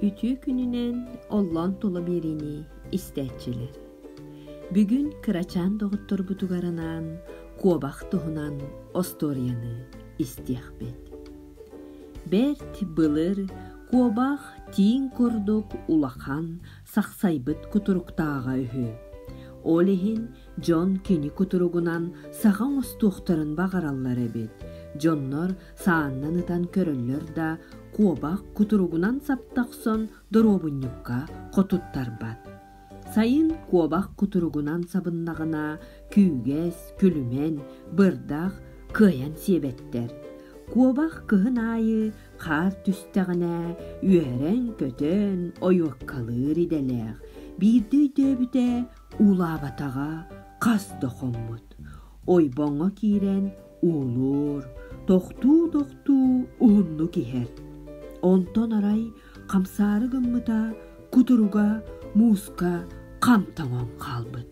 Үтүө күнүнэн оллоон тула биэриини истээччилэр. Бүгүн кырачаан доҕотторбутугар анаан куобах туһунан остуоруйаны истиэхпит. Бэрт былыр куобах тииҥ курдук улахан сахсайбыт кутуруктааҕа үһү. Ол иһин дьон кини кутуругунан саха оҥостуохтарын баҕараллар эбит. Дьоннор сааннан ытан көрөллөр да куобах кутуругунан саптахсон доруобунньукка хотуттарбат сайын куобах кутуругунан сабыннаҕына күүгэс күлүмэн бырдах кыайан сиэбэттэр куобах кыһын аайы хаар түстэҕинэ үөрэн-көтөн ойуоккалыыр идэлээх биирдэ өйдөөбүтэ уулаабатаҕа хас да хоммут ойбоҥо киирэн Уолуур, тохтуу-тохтуу уһуннук иһэр. Онтон арай хамсаары гыммыта кутуруга мууска хам тоҥон хаалбыт.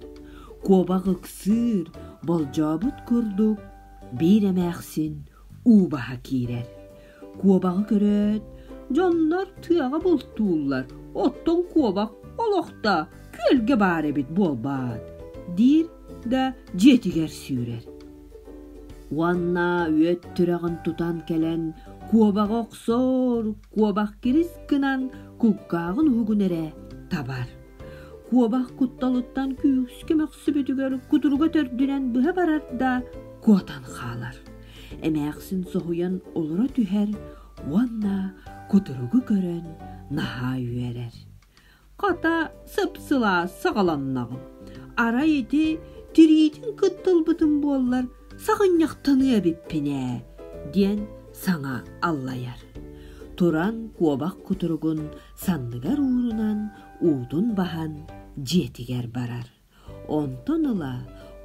Куобах ыксыыр, болдьообут курдук биир эмээхсин уу баһа киирэр. Куобаҕы көрөөт, дьоннор тыаҕа бултууллар, оттон куобах олохто күөлгэ баар эбит буолбаат, диир да дьиэтигэр сүүрэр. Уонна үөт түрэҕин тутан кэлэн куобаҕы охсор, куобах кирис гынан кулгааҕын уһугун эрэ табар. Куобах кутталыттан күүскэ мөхсөр түспүтүгэр кутуруга төрдүнэн быһа барар да куотан хаалар. Эмээхсин соһуйан олоро түһэр уонна кутуругу көрөн наһаа үөрэр. Хата сыпсыла саҕаланнаҕым. Арай ити тириитин кыттылбытым буоллар саҕынньахтаныа эбиппин ээ диэн саҥа аллайар. Туран куобах кутуругун санныгар уурунан уутун баһан дьиэтигэр барар. Онтон ыла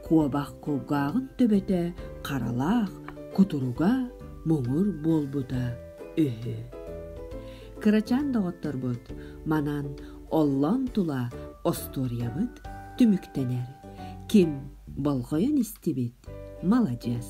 куобах кулгааҕын төбөтө харалаах кутуруга муҥур буолбута үһү. Кырачаан доҕотторбут манан оллон тула остуоруйабыт түмүктэнэр. Ким болҕойон истибит маладьыас.